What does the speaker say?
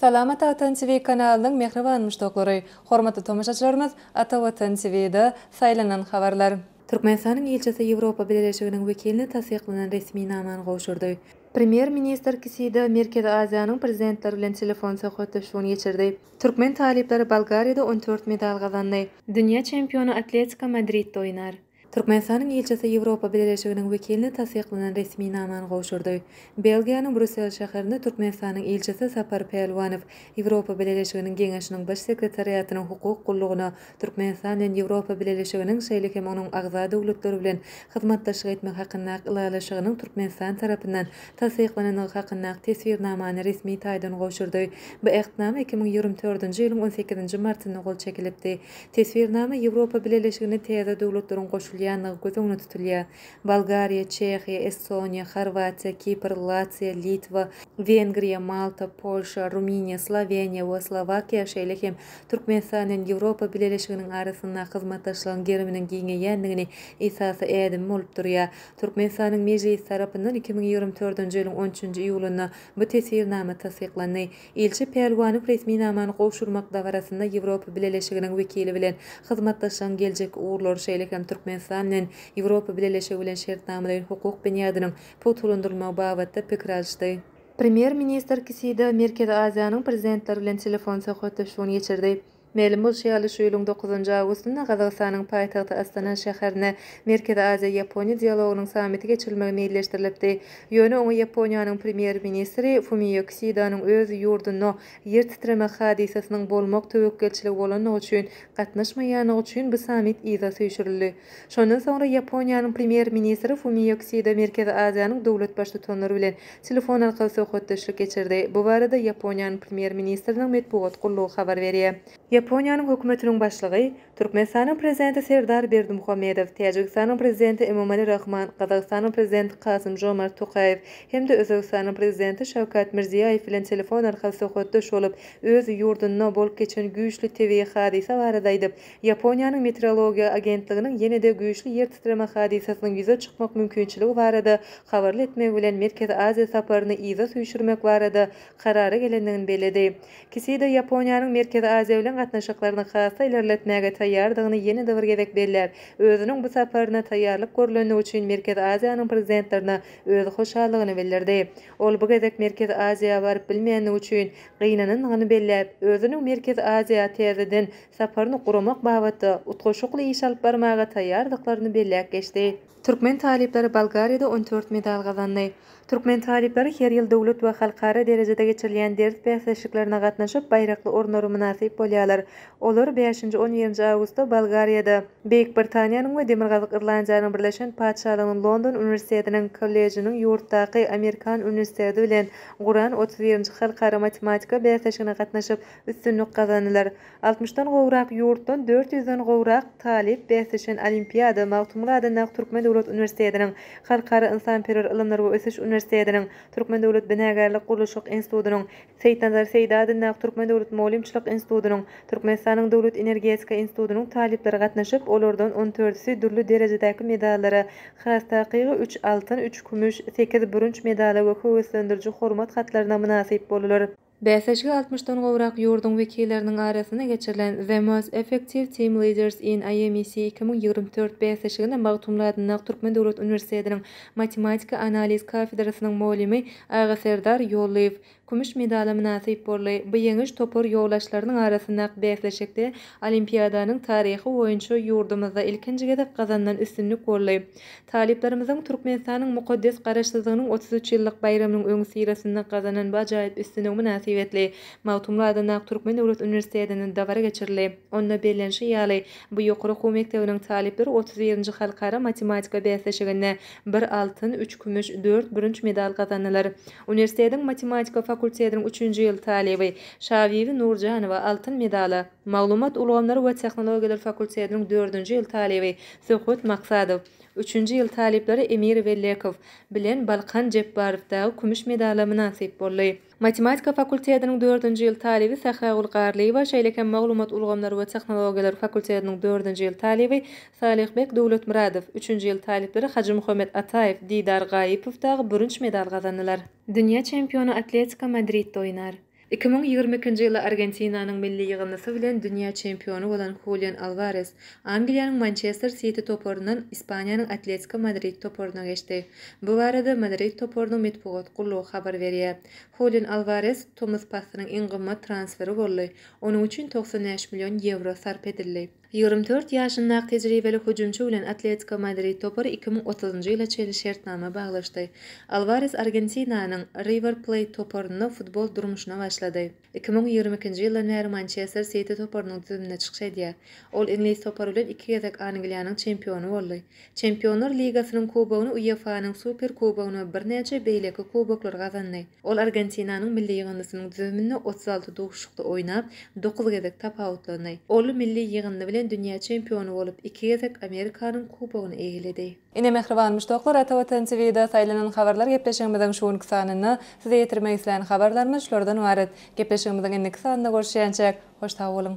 Salamat Atan TV kanalynyň mähriban muşdaklary, hormatly tomaşaçylarymyz Ata Watan TVda saýlanan habarlar. Türkmenistanyň ilçisi Ýewropa Bileleşiginiň wekiline tassyklanan resminamany gowşurdy. Premýer-ministr Kisida Merkezi Aziýanyň prezidentleri bilen telefon söhbetdeşligini geçirdi. Türkmen talyplary Bolgariýada on dört medal gazandy. Dünýä çempiony Atletiko Madridde oýnar. Türkmenistanyň ilçisi Ýewropa Bileleşiginiň wekiline tassyklanan resminamany gowşurdy. Belgiýanyň Brýussel şäherinde Türkmenistanyň ilçisi Sapar Pälwanow Ýewropa Bileleşiginiň Geňeşiniň Baş sekretariatynyň hukuk gullugyna Türkmenistan bilen Ýewropa Bileleşiginiň, şeýle hem onuň agza döwletleri bilen hyzmatdaşlyk etmek hakyndaky ylalaşygynyň Türkmenistan tarapyndan tassyklanandygy hakyndaky teswirnamany resmi taýdan gowşurdy. Bu Ähtnama iki müň ýigrimi dördünji ýylyň on sekizinji martynda gol çekilipdi. Teswirnama Ýewropa Bileleşigine täze döwletleriň goşulýandygy göz öňüne tutulýar, Bolgariýa, Çehiýa, Estoniýa, Horwatiýa, Kipr, Latwiýa, Litwa, Wengriýa, Malta, Polşa, Rumyniýa, Sloweniýa we Slowakiýa, şeýle hem Türkmenistan bilen Ýewropa Bileleşiginiň arasynda hyzmatdaşlygyň geriminiň giňeýändigini esasy ädimi bolup durýar. Türkmenistanyň Mejlisi tarapyndan iki müň ýigrimi dördünji ýylyň on üçünji iýulynda bu Teswirnama tassyklandy. Ilçi Pälwanow resminamany gowşurmak dabarasynda Ýewropa Bileleşiginiň wekili bilen hyzmatdaşlygyň geljekki ugurlary, şeýle hem Türkmenistan bilen Ýewropa Bileleşigi bilen şertnamalaýyn hukuk binýadynyň pugtalandyrylmagy babatda pikir alyşdy. Premýer-ministr Kisida Merkezi Aziýanyň prezidentleri bilen telefon söhbetdeşligini geçirdi. Mälim bolşy ýaly, şu ýylyň dokuzynjy awgustynda Gazagystanyň paýtagty Astana şäherinde Merkezi Aziýa, Ýaponiýa dialogynyň sammiti geçirilmegi meýilleşdirilipdi. Ýöne oňa Ýaponiýanyň premýer-ministri Fumio Kisidanyň öz ýurdunda ýer titreme hadysasynyň bolmak töwekgelçiligi bolandygy üçin gatnaşmaýandygy üçin bu sammit yza süýşürildi. Şondan soňra Ýaponiýanyň Premýer-ministri Fumio Kisida Merkezi Aziýanyň döwlet Baştutanlary bilen telefon arkaly söhbetdeşlik geçirdi. Bu barada Ýaponiýanyň Premýer-ministriniň metbugat gullugy habar berýär. Ýaponiýanyň Hökümetiniň Başlygy, Türkmenistanyň Prezidenti Serdar Berdimuhamedow, Täjigistanyň Prezidenti Emomali Rahman, Gazagystanyň Prezidenti Kasym-Žomart Tokaýew hem-de Özbegistanyň Prezidenti Şawkat Mirziýaýew bilen telefon arkaly söhbetdeş bolup, öz ýurdunda bolup geçen güýçli tebigy hadysa barada aýdyp, Ýaponiýanyň Meteorologiýa agentliginiň ýene-de güýçli ýer titreme hadysasynyň ýüze çykmak mümkinçiligi barada habarly etmegi bilen Merkezi Aziýa saparyny yza süýşürmek barada karara gelendigini belledi. Kisida Ýaponiýanyň Merkezi Aziýa bilen gatnaşyklaryny has-da ilerletmäge taýýardygyny ýene-de bir gezek belläp, özüniň bu saparyna taýýarlyk görlendigi üçin Merkezi Aziýanyň prezidentlerine öz hoşallygyny bildirdi. Ol bu gezek Merkezi Aziýa baryp bilmänligi üçin gynanandygyny belläp, özüniň Merkezi Aziýa täzeden saparyny guramak babatda utgaşykly iş alyp barmaga taýýardyklaryny belläp geçdi. Türkmen talyplary Bolgariýada on dört medal gazandy. Türkmen talyplary her ýyl döwlet we halkara derejede geçirilýän ders bäsleşiklerine gatnaşyp, baýrakly orunlara mynasyp bolýarlar. Olar bäşinji, on birinji awgustda Bolgariýada, Beýik Britaniýanyň we Demirgazyk Irlandiýanyň Birleşen Patyşalygynyň London uniwersitetiniň kollejiniň ýurtdaky Amerikan uniwersiteti bilen guran otuz birinji halkara matematika bäsleşigine gatnaşyp, üstünlik gazanylar. Altmyşdan gowrak ýurtdan dört ýüzden gowrak talyp bäsleşen olimpiada Magtymguly adyndaky Türkmen döwlet uniwersitetiniň, Halkara ynsanperwer ylymlar we ösüş uniwersitetiniň, Türkmen döwlet binagärlik-gurluşyk institutynyň, Seýitnazar Seýdi adyndaky Türkmen döwlet mugallymçylyk institutynyň, Türkmenistanyň Döwlet energetika institutynyň talyplary gatnaşyp, olardan on törtüsi dürli derejedäki medallara, has takygy üç altyn, üç kümüş, sekiz bürünç medala we höweslendiriji hormat hatlaryna mynasyp boldular. Bäsleşige altmyşdan gowrak ýurduň wekilleriniň arasynda geçirilen The Most Effective Team Leaders in IMEC iki müň ýigrimi dört bäsleşigine Magtymguly adyndaky Türkmen döwlet uniwersitetiniň matematika analiz kafedrasynyň mugallymy Agaserdar Ýollyýew kümüş medala mynasyp boldy. Bu ýeňiş topar ýoldaşlarynyň arasyndaky bäsleşikde Olimpiadanyň taryhy boýunça ýurdumyzda ilkinji gezek gazanylan üstünlik boldy. Talyplarymyzyň Türkmenistanyň mukaddes Garaşsyzlygynyň otuz üç ýyllyk baýramynyň öňüsyrasynda gazanan bu ajaýyp üstünligi mynasybetli Magtymguly adyndaky Türkmen döwlet uniwersitetinde dabara geçirildi. Onda bellenişi ýaly, bu ýokary okuw mekdebiniň talyplary otuz birinji halkara matematika bäsleşiginde bir altyn, üç kümüş, dört bürünç medal gazandylar. Uniwersitetiň matematika fakultetiniň üçünji ýyl talyby Şabibi Nurjanowa altyn medala, Maglumat ulgamlary we tehnologiýalar fakultetiniň dördünji ýyl talyby Söhbet Maksadow, üçünji ýyl talyplary Emir Wellekow bilen Balkan Jepbarow dagy kümüş medala mynasyp boldy. Matematika fakultetiniň dördünji ýyl talyby Sähragül Garlyýewa, şeýle hem Maglumat ulgamlary we tehnologiýalar fakultetiniň dördünji ýyl talyby Salyhbek Döwletmyradow, üçünji ýyl talyplary Hajymuhammet Ataýew, Didar Gaýypow dagy bürünç medal gazandylar. Dünýä çempiony Atletiko Madridde oýnar. Iki müň ýigrimi ikinji ýyly Argentinanyň milli ýygyndysy bilen dünýä çempiony bolan Hulian Alwares Angliýanyň Mançester Siti toparyndan Ispaniýanyň Atletiko Madrid toparyna geçdi. Bu barada Madrid toparynyň metbugat gullugy habar berýär. Hulian Alwares tomus paslynyň iň gymmat transferi boldy, onuň üçin togsan bäş million ýewro sarp edildi. Ýigrimi dört ýaşyndaky tejribeli hüjümçi bilen Atletiko Madrid topary iki müň otuzynjy ýyla çenli şertnama baglaşdy. Alwares Argentinanyň Riwer Pleýt toparynda futbol durmuşyna başlady. Iki müň ýigrimi ikinji ýyldan bäri Mançester Siti toparynyň düzüminde çykyş edýär. Ol iňlis topary bilen iki gezek Angliýanyň çempiony boldy. Çempionlar ligasynyň kubogyny, UEFA-nyň Super kubogyny we birnäçe beýleki kuboklary gazandy. Ol Argentinanyň milli ýygyndysynyň düzüminde otuz alty duşuşykda oýnap, dokuz gezek tapawutlandy. Ol milli ýygyndy bilen dünýä çempiony bolup, iki gezek Amerikanyň kubogyny eýeledi. Ine mähribanmyş doglar Ata Watan TVda saýlanan habarlar gepleşigimiziň şu günki sanynda size ýetirmek islän habarlarymyz şulardan ybarat. Gepleşigimiziň indiki sanynda görüşýänçäk hoş sag boluň.